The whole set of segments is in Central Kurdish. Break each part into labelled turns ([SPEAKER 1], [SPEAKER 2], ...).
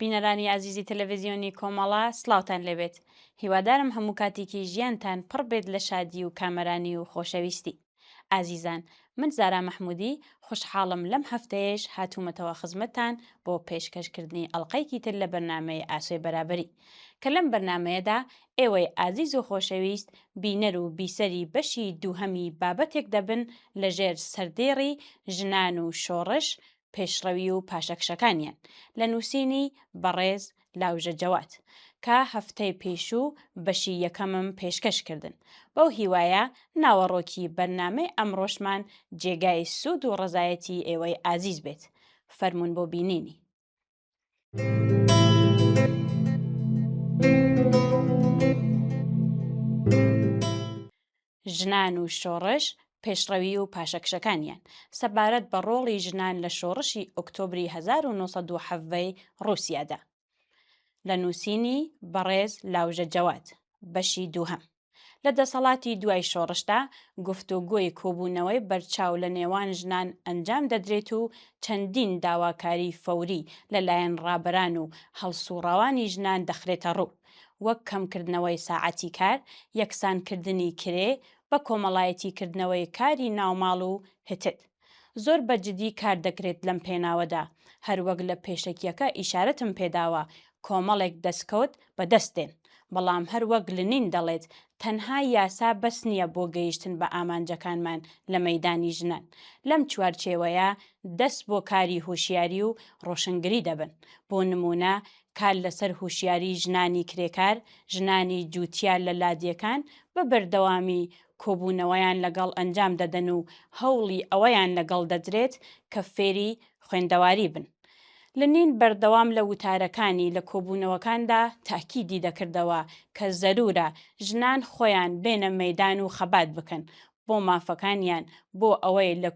[SPEAKER 1] بینەرانی ئازیزی تەلەڤزیۆنی کۆمەڵە سڵاوتان لەبێت هیوادارم هەموو کاتێکی ژیانتان پڕ بێت لە شادی و کامەرانی و خۆشەویستی ئازیزان من زارا مەحمودی خوشحاڵم لەم هەفتەیەش هاتوومەتەوە خزمەتتان بۆ پێشکەشکردنی ئەڵلقەیەکی تر لە بەرنمەی ئاسۆی بەرابری کە لەم بەرنمەیەدا ئێوەی ئازیز و خۆشەویست بینەر و بیسەری بەشی دووهەمی بابەتێک دەبن لە ژێر سەردێڕی ژنان و شۆڕش، پێشڕەوی و پاشەکشەکانیان لە نووسینی بەڕێز لاوژە جەواد کە هەفتەی پێشوو بەشی یەکەمم پێشکەش کردن. بەو هیوایە ناوەڕۆکی بەرنامەی ئەمڕۆشمان جێگای سوود و ڕەزایەتی ئێوەی ئازیز بێت. فەرموون بۆ بینینی. ژنان و شۆڕش پێشڕەوی و پاشەکشەکانیان سەبارەت بە ڕۆڵی ژنان لە شۆڕشی ئۆکتۆبری 1970ی ڕووسیادا لە نووسینی بەڕێز لاوژە جەواد بەشی دووهەم لە دەسەڵاتی دوای شۆڕشدا گفتوگۆی کۆبوونەوەی بەرچاو لە نێوان ژنان ئەنجام دەدرێت و چەندین داواکاری فەوری لە لایەن ڕابەران و هەڵسوڕاوانی ژنان دەخرێتە ڕوو وەک کەمکردنەوەی ساعەتی کار، یەکسانکردنی کرێ، بەکۆمەڵایەتیکردنەوەی کاری ناوماڵ و. هتد. زۆر بە جدی کار دەکرێت لەم پێناوەدا، هەروەک لە پێشەکیەکە ئیشارەتم پێداوە کۆمەڵێک دەستکەوت بەدەست دێن، بەڵام هەر وەک لنین دەڵێت تەنها یاسا بەس نیە بۆ گەیشتن بە ئامانجەکانمان لە مەیدانی ژنان، لەم چوارچێوەیە دەست بۆ کاری هوشیاری و ڕۆشنگری دەبن، بۆ نمونە کار لەسەر هوشیاری ژنانی کرێکار، ژنانی جوتیار لە لادێکان بە بەردەوامی کۆبوونەوەیان لەگەڵ ئەنجام دەدەن و هەوڵی ئەوەیان لەگەڵ دەدرێت کە فێری خوێندەواری بن. لنین بەردەوام لە وتارەکانی لە کۆبوونەوەکاندا تاکیدی دەکردەوە کە زەروورە ژنان خۆیان بێنە مەیدان و خەبات بکەن بۆ مافەکانیان بۆ ئەوەی لە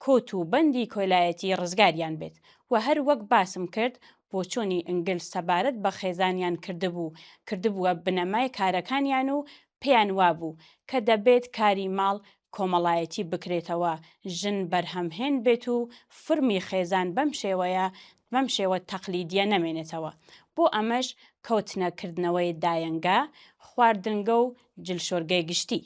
[SPEAKER 1] کۆت و بەندی کۆیلایەتی ڕزگاریان بێت و هەر وەک باسم کرد بۆچۆنی ئنگلز سەبارەت بە خێزانیان کردبوو کردبووە بنەمای کارەکانیان و پێیان وابوو کە دەبێت کاری ماڵ کۆمەڵایەتی بکرێتەوە ژن بەرهەمهێن بێت و فورمی خێزان بەم شێوەیە بەم شێوە تەقلیدیە نەمێنێتەوە بۆ ئەمەش کەوتنە کردنەوەی دایەنگە خواردنگە و جلشۆرگەی گشتی،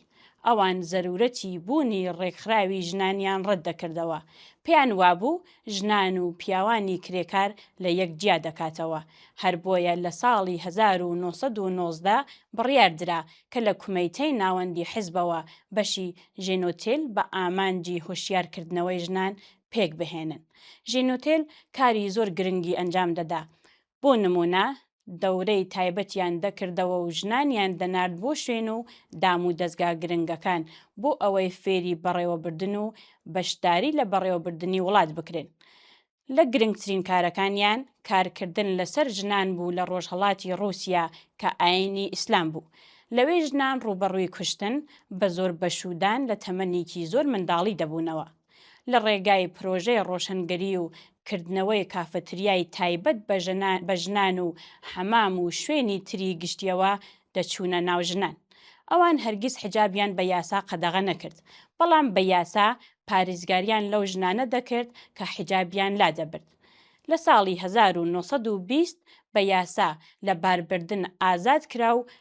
[SPEAKER 1] ئەوان زەرورەتی بوونی ڕێکخراوی ژنانیان ڕەت دەکردەوە، پێیان وابوو ژنان و پیاوانی کرێکار لە یەک جیا دەکاتەوە، هەر بۆیە لە ساڵی هەزار و نۆ سەد و نۆزدە بڕیار درا کە لە کومەیتەی ناوەندی حزبەوە بەشی ژێنۆتێل بە ئامانجی هۆشیار کردنەوەی ژنان پێک بهێنن. ژێنۆتێل کاری زۆر گرنگی ئەنجام دەدا، بۆ نموونە، دەورەی تایبەتیان دەکردەوە و ژنانیان دەنارد بۆ شوێن و دام و دەزگا گرنگەکان بۆ ئەوەی فێری بەڕێوەبردن و بەشداری لە بەڕێوەبردنی وڵات بکرێن. لە گرنگترین کارەکانیان کارکردن لەسەر ژنان بوو لە ڕۆژهەڵاتی ڕووسیا کە ئایینی ئیسلام بوو. لەوێ ژنان ڕووبەڕووی کوشتن، بە زۆر بەشوودان لە تەمەنێکی زۆر منداڵی دەبوونەوە. لە ڕێگای پرۆژەی ڕۆشنگەری و کردنەوەی کافتریای تایبەت بە ژنان و حەمام و شوێنی تری گشتیەوە دەچوونە ناو ژنان. ئەوان هەرگیز حیجابیان بە یاسا قەدەغە نەکرد، بەڵام بە یاسا پاریزگاریان لەو ژنانە دەکرد کە حیجابیان لادەبرد. لە ساڵی هەزار و نۆ سەد و بیست بە یاسا لە باربردن ئازاد کرا و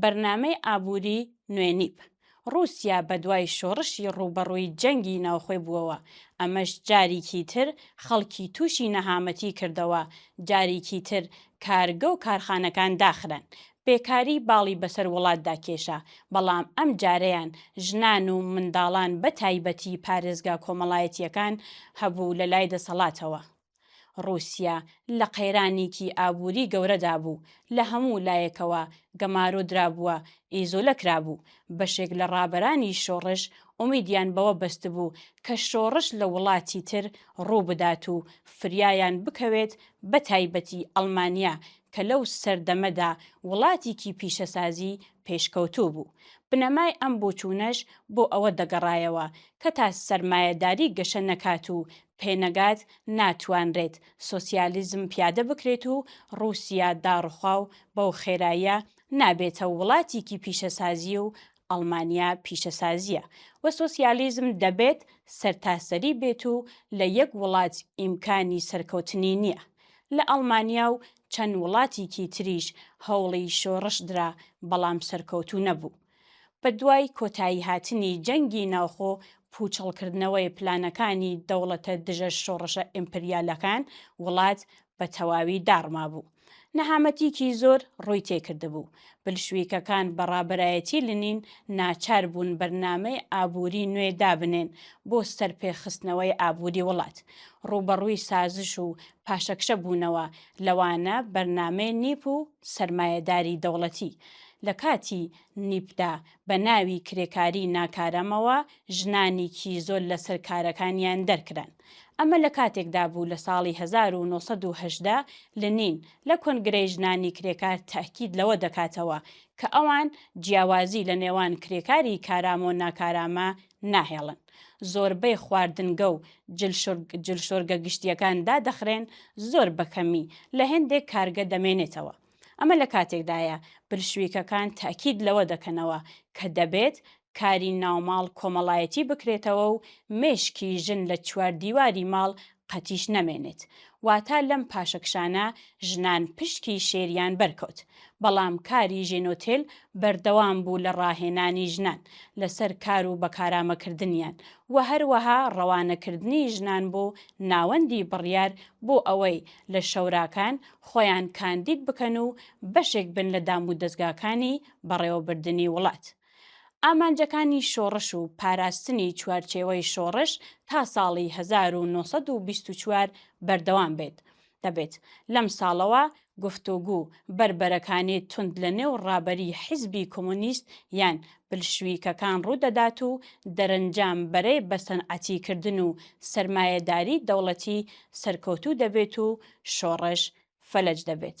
[SPEAKER 1] بەرنامەی ئابووری نوێ نیپ ڕووسیا بەدوای شۆڕشی ڕووبەڕووی جەنگی ناوخۆی بووەوە، ئەمەش جاریکی تر خەڵکی تووشی نەهامەتی کردەوە، جاریکی تر کارگە و کارخانەکان داخران، بێکاری باڵی بەسەر وڵاتدا کێشا، بەڵام ئەم جارەیان ژنان و منداڵان بەتایبەتی پارێزگا کۆمەڵایەتییەکان هەبوو لەلای دەسەڵاتەوە. ڕووسیا لە قەیرانیکی ئابووری گەورەدا بوو، لە هەموو لایەکەوە گەمارۆ درابووە، ئیزۆلە کرابوو. بەشێک لە ڕابەرانی شۆڕش ئومیدیان بەوە بەستبوو کە شۆڕش لە وڵاتی تر ڕوو بدات و فریایان بکەوێت بە تایبەتی ئەڵمانیا کە لەو سەردەمەدا وڵاتیکی پیشەسازی پێشکەوتوو بوو. بنەمای ئەم بۆچوونەش بۆ ئەوە دەگەڕایەوە کە تا سەرمایەداری گەشە نەکات و پێنەگات ناتوانرێت سۆسیالیزم پیادە بکرێت و ڕووسیا داڕوخا و بەو خێراییە نابێتە وڵاتیکی پیشەسازی و ئەڵمانیا پیشەسازیە و سۆسیالیزم دەبێت سەرتاسەری بێت و لە یەک وڵات ئیمکانی سەرکەوتنی نیە لە ئەڵمانیا و چەند وڵاتیکی تریش هەوڵی شۆڕش درا بەڵام سەرکەوتوو نەبوو بەدوای کۆتاییهاتنی جەنگی ناوخۆ، پووچەڵکردنەوەی پلانەکانی دەوڵەتە دژە شۆڕشە ئیمپریالەکان، وڵات بە تەواوی داڕمابوو. نەهامەتیکی زۆر ڕووی تێکردبوو. بلشویکەکان بە ڕابەرایەتی لنین ناچار بوون بەرنامەی ئابووری نوێ دابنێن بۆ سەرپێخستنەوەی ئابووری وڵات. ڕووبەڕووی سازش و پاشەکشە بوونەوە، لەوانە بەرنامەی نیپ و. سەرمایەداری دەوڵەتی لە کاتی نیپدا بە ناوی کرێکاری ناکارامەوە ژنانیکی زۆر لە سەر کارەکانیان دەرکران. ئەمە لە کاتێکدا بوو لە ساڵی هەزار و نۆ سەد و هەژدە لنین لە کۆنگرەی ژنانی کرێکار تەئکید لەوە دەکاتەوە کە ئەوان جیاوازی لە نێوان کرێکاری کارامەو ناکارامە ناهێڵن زۆربەی خواردنگە و جلشۆرگە گشتیەکان دادەخرێن زۆر بەکەمی لە هێندێک کارگە دەمێنێتەوە ئەمە لە کاتێکدایە پرشویکەکان تاکید لەوە دەکەنەوە کە دەبێت کاری ناوماڵ کۆمەڵایەتی بکرێتەوە و مێشکی ژن لە چواردیواری ماڵ قەتیش نەمێنێت، واتە لەم پاشەکشانە ژنان پشکی شێریان بەرکەوت، بەڵام کاری ژێنۆتێل بەردەوام بوو لە ڕاهێنانی ژنان لەسەر کار و بەکارامەکردنیان و هەروەها ڕەوانەکردنی ژنان بۆ ناوەندی بڕیار بۆ ئەوەی لە شۆراکان خۆیان کاندید بکەن و بەشێک بن لە دامودەزگاکانی بەڕێوەبردنی وڵات. ئامانجەکانی شۆڕش و پاراستنی چوارچێوەی شۆڕش تا ساڵی 1924 بەردەوام بێت، دەبێت لەم ساڵەوە گفتوگوو بەربەرەکانی توند لە نێو ڕابەری حیزبی کۆمۆنیست یان بلشویکەکان ڕوودەدات و دەرەنجام بەرەی بەسەنعەتیکردن و سەرمایەداری دەوڵەتی سەرکەوتوو دەبێت و شۆڕش فەلەج دەبێت.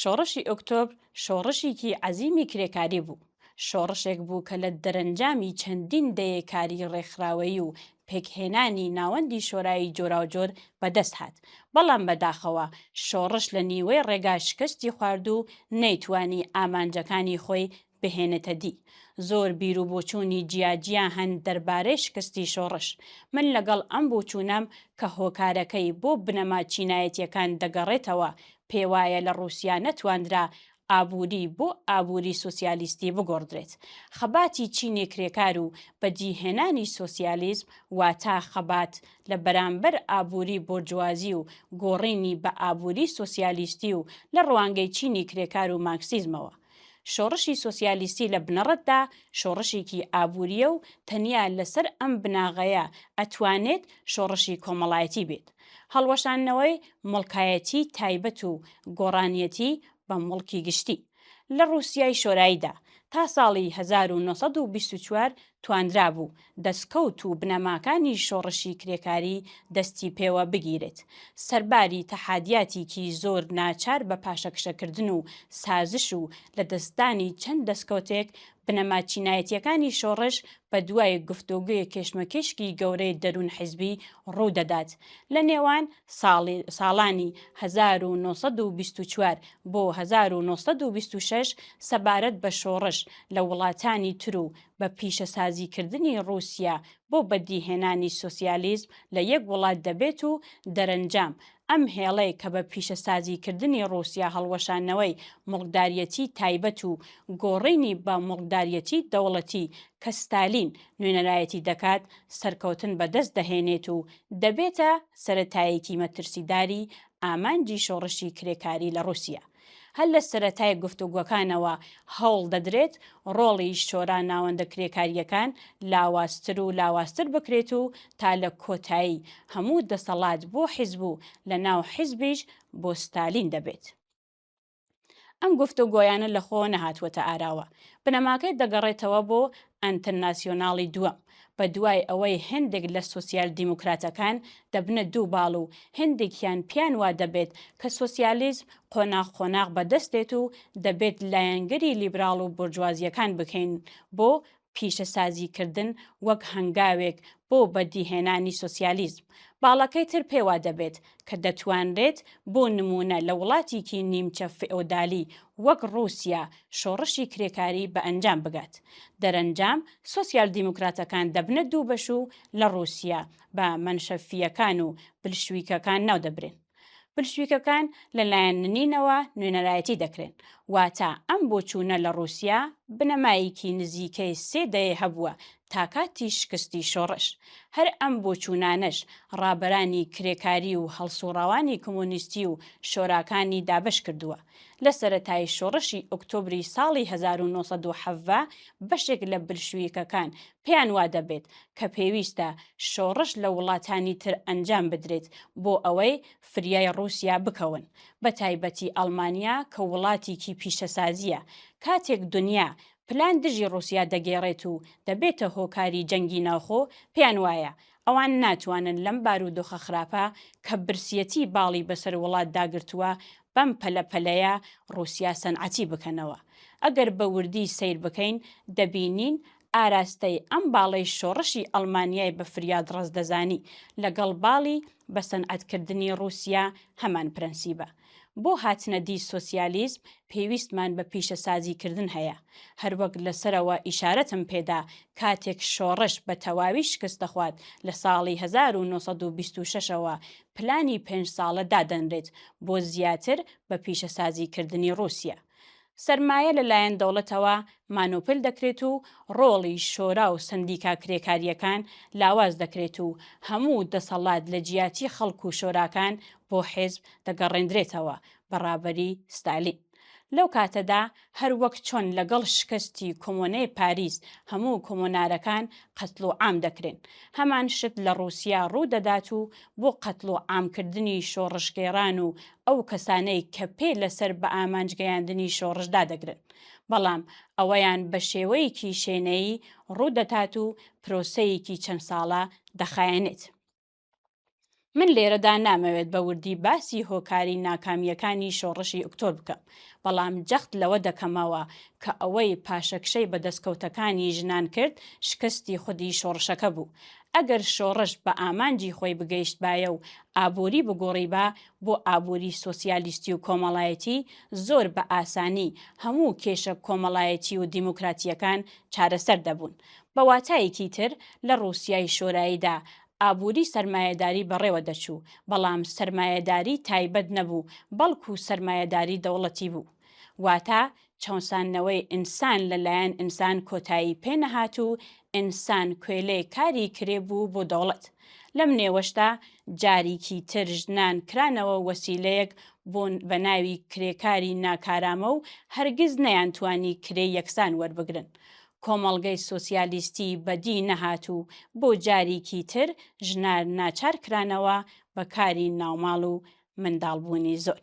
[SPEAKER 1] شۆڕشی ئۆکتۆبر شۆڕشیکی عەزیمی کرێکاری بوو، شۆڕشێک بوو کە لە دەرەنجامی چەندین دەیەی کاری ڕێکخراوەیی و پێکهێنانی ناوەندی شۆرایی جۆراوجۆر بەدەست هات، بەڵام بەداخەوە شۆڕش لە نیوەی ڕێگا شکەستی خوارد و نەیتوانی ئامانجەکانی خۆی بهێنێتە دی. زۆر بیر و بۆچوونی جیا جیا هەن دەربارەی شکستی شۆڕش. من لەگەڵ ئەم بوچوونەم کە هۆکارەکەی بۆ بنەما چینایەتییەکان دەگەڕێتەوە، پێوایە لە ڕووسیا نەتواندرا ئابووری بۆ ئابووری سۆسیالیستی بگۆڕدرێت. خەباتی چینی کرێکار و بەدیهێنانی سۆسیالیزم واتا خەبات لە بەرامبەر ئابووری بۆرجوازی و گۆڕینی بە ئابووری سۆسیالیستی و لە ڕوانگەی چینی کرێکار و مارکسیزمەوە، شۆڕشی سۆسیالیستی لە بنەڕەتدا شۆڕشێکی ئابوورییە و تەنیا لەسەر ئەم بناغەیە ئەتوانێت شۆڕشی کۆمەڵایەتی بێت. هەڵوەشاندنەوەی موڵکایەتی تایبەت و گۆڕانیەتی بە موڵکی گشتی. لە ڕووسیای شۆراییدا، تا ساڵی هەزار و نۆ سەد و بیست و چوار توانرابوو دەسکەوت و بنەماکانی شۆڕشی کرێکاری دەستی پێوە بگیرێت. سەرباری تەحادیاتیکی زۆر ناچار بە پاشەکشەکردن و سازش و لە دەستدانی چەند دەسکەوتێک، بنەما چینایەتیەکانی شۆڕش بە دوای گفتۆگۆی کێشمەکێشکی گەورەی دەروون حیزبی ڕوو دەدات لە نێوان ساڵانی هەزار و نۆ سەد و بیست و چوار بۆ هەزار و نۆ سەد و بیست و شەش سەبارەت بە شۆڕش لە وڵاتانی تر و بە پیشەسازیکردنی ڕووسیا بۆ بەدیهێنانی سۆسیالیزم لە یەک وڵات دەبێت و دەرەنجام ئەم هێڵەی کە بە پیشەسازیکردنی ڕووسیا هەڵوەشانەوەی موڵکداریەتی تایبەت و گۆڕینی بە موڵکداریەتی دەوڵەتی کە ستالین نوێنەرایەتی دەکات سەرکەوتن بەدەست دەهێنێت و دەبێتە سەرەتایەکی مەترسیداری ئامانجی شۆڕشی کرێکاری لە ڕووسیە. هەر لە سەرەتای گفتوگۆکانەوە هەوڵ دەدرێت ڕۆڵی شۆرا ناوەندە کرێکارییەکان لاوازتر و لاوازتر بکرێت و تا لە کۆتایی هەموو دەسەڵات بۆ حیزب و لە ناو حیزبیش بۆ ستالین دەبێت. ئەم گفتوگۆیانە لە خۆوە نەهاتووەتە ئاراوە بنەماکەی دەگەڕێتەوە بۆ ئەنتەرناسیۆناڵی دووەم بە دوای ئەوەی هەندێک لە سوسیال دیموکراتەکان دەبنە دوو باڵ و هەندێکیان پیان وا دەبێت کە سوسیالیزم قۆناغ قۆناغ بەدەست دێت و دەبێت لایەنگری لیبراڵ و بورجوازیەکان بکەین بۆ پیشەسازیکردن وەک هەنگاوێک بۆ بەدیهێنانی سۆسیالیزم، باڵەکەی تر پێ وا دەبێت کە دەتوانرێت بۆ نموونە لە وڵاتیکی نیمچە فئۆدالی وەک ڕووسیا شۆڕشی کرێکاری بە ئەنجام بگات. دەرەنجام سۆسیال دیموکراتەکان دەبنە دوو بەش و لە ڕووسیا بە مەنشەفییەکان و بلشویکەکان ناو دەبرێن. بلشویکەکان لە لایەن لنینەوە نوێنەرایەتی دەکرێن، واتە ئەم بۆچوونە لە ڕووسیا بنەمایەکی نزیکەی سێ دەیە هەبووە تا کاتی شکستی شۆڕش. هەر ئەم بۆچوونانەش ڕابەرانی کرێکاری و هەڵسوڕاوانی کمۆنیستی و شۆراکانی دابەش کردووە. لە سەرەتای شۆڕشی ئۆکتۆبری ساڵی هەزار و نۆ سەد و حەڤە بەشێک لە بلشویکەکان پێیان وادەبێت کە پێویستە شۆڕش لە وڵاتانی تر ئەنجام بدرێت بۆ ئەوەی فریای ڕووسیا بکەون، بەتایبەتی ئەڵمانیا کە وڵاتیکی پیشەسازییە، کاتێک دونیا پلان دژی ڕووسیا دەگێڕێت و دەبێتە هۆکاری جەنگی ناوخۆ، پێیان وایە ئەوان ناتوانن لەم بارودۆخە خراپە کە برسیەتی باڵی بەسەر وڵات داگرتووە بەم پەلە پەلەیە ڕووسیا سەنعەتی بکەنەوە. ئەگەر بە وردی سەیر بکەین دەبینین ئاراستەی ئەم باڵەی شۆڕشی ئەڵمانیای بە فریاد ڕەس دەزانی، لەگەڵ باڵی بە سەنعەت کردنی ڕووسیا هەمان پرەنسیبە. بۆ هاتنە دی سۆسیالیزم پێویستمان بە پیشەسازی کردن هەیە. هەروەک لە سەرەوە ئیشارەتم پێ دا، کاتێک شۆڕش بە تەواوی شکست دەخوات لە ساڵی هەزار و نۆ سەد و بیست و شەش ەوە پلانی پێنج ساڵە دادەنرێت بۆ زیاتر بە پیشەسازی کردنی ڕووسیا. سەرمایە لەلایەن دەوڵەتەوە مانۆپل دەکرێت و ڕۆڵی شۆرا و سەندیکا کرێکارییەکان لاواز دەکرێت و هەموو دەسەڵات لە جیاتی خەڵک و شۆراکان بۆ حیزب دەگەڕێندرێتەوە بە ڕابەری ستالین. لەو کاتەدا هەر وەک چۆن لەگەڵ شکستی کۆمۆنەی پاریس هەموو کۆمۆنارەکان قەتڵوعام دەکرێن، هەمان شت لە ڕووسیا ڕوو دەدات و بۆ قەتڵوعامکردنی شۆڕشگێڕان و ئەو کەسانەی کە پێ لەسەر بە ئامانج گەیاندنی شۆڕش دادەگرن، بەڵام ئەوەیان بە شێوەیەکی شێنەیی ڕوو دەتات و پرۆسەیەکی چەند ساڵە دەخایەنێت. من لێرەدا نامەوێت بە وردی باسی هۆکاری ناکامییەکانی شۆڕشی ئوکتۆر بکەم، بەڵام جەخت لەوە دەکەمەوە کە ئەوەی پاشەکشەی بە دەستکەوتەکانی ژنان کرد شکستی خودی شۆڕشەکە بوو، ئەگەر شۆڕش بە ئامانجی خۆی بگەیشتبایە و ئابووری بگۆڕیبا بۆ ئابووری سۆسیالیستی و کۆمەڵایەتی، زۆر بە ئاسانی هەموو کێشە کۆمەڵایەتی و دیموکراتییەکان چارەسەر دەبوون. بە واتایەکی تر، لە ڕووسیای شۆراییدا ئابووری سەرمایەداری بەڕێوە دەچوو، بەڵام سەرمایەداری تایبەت نەبوو، بەڵکوو سەرمایەداری دەوڵەتی بوو. واتە چەوساندنەوەی ئینسان لە لایەن ئینسان کۆتایی پێ نەهات و ئینسان کۆیلەی کاری کرێ بوو بۆ دەوڵەت. لەم نێوەشدا جاریکی تر ژنان کرانەوە وەسیلەیەک بۆ بە ناوی کرێکاری ناکارامە و هەرگیز نەیانتوانی کرێی یەکسان وەربگرن. کۆمەڵگەی سۆسیالیستی بە دی نەهات و بۆ جاریکی تر ژنار ناچار کرانەوە بە کاری ناوماڵ و منداڵبوونی زۆر.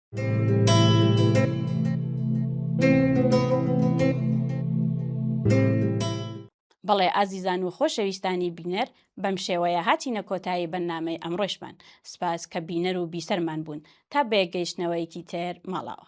[SPEAKER 1] بەڵێ ئازیزان و خۆشەویستانی بینەر بەم شێوەیە هاتینە کۆتایی بەنامەی ئەمڕۆشمان سپاس کە بینەر و بیسەرمان بوون تا بەیەکگەیشتنەوەیەکی تر ماڵاوە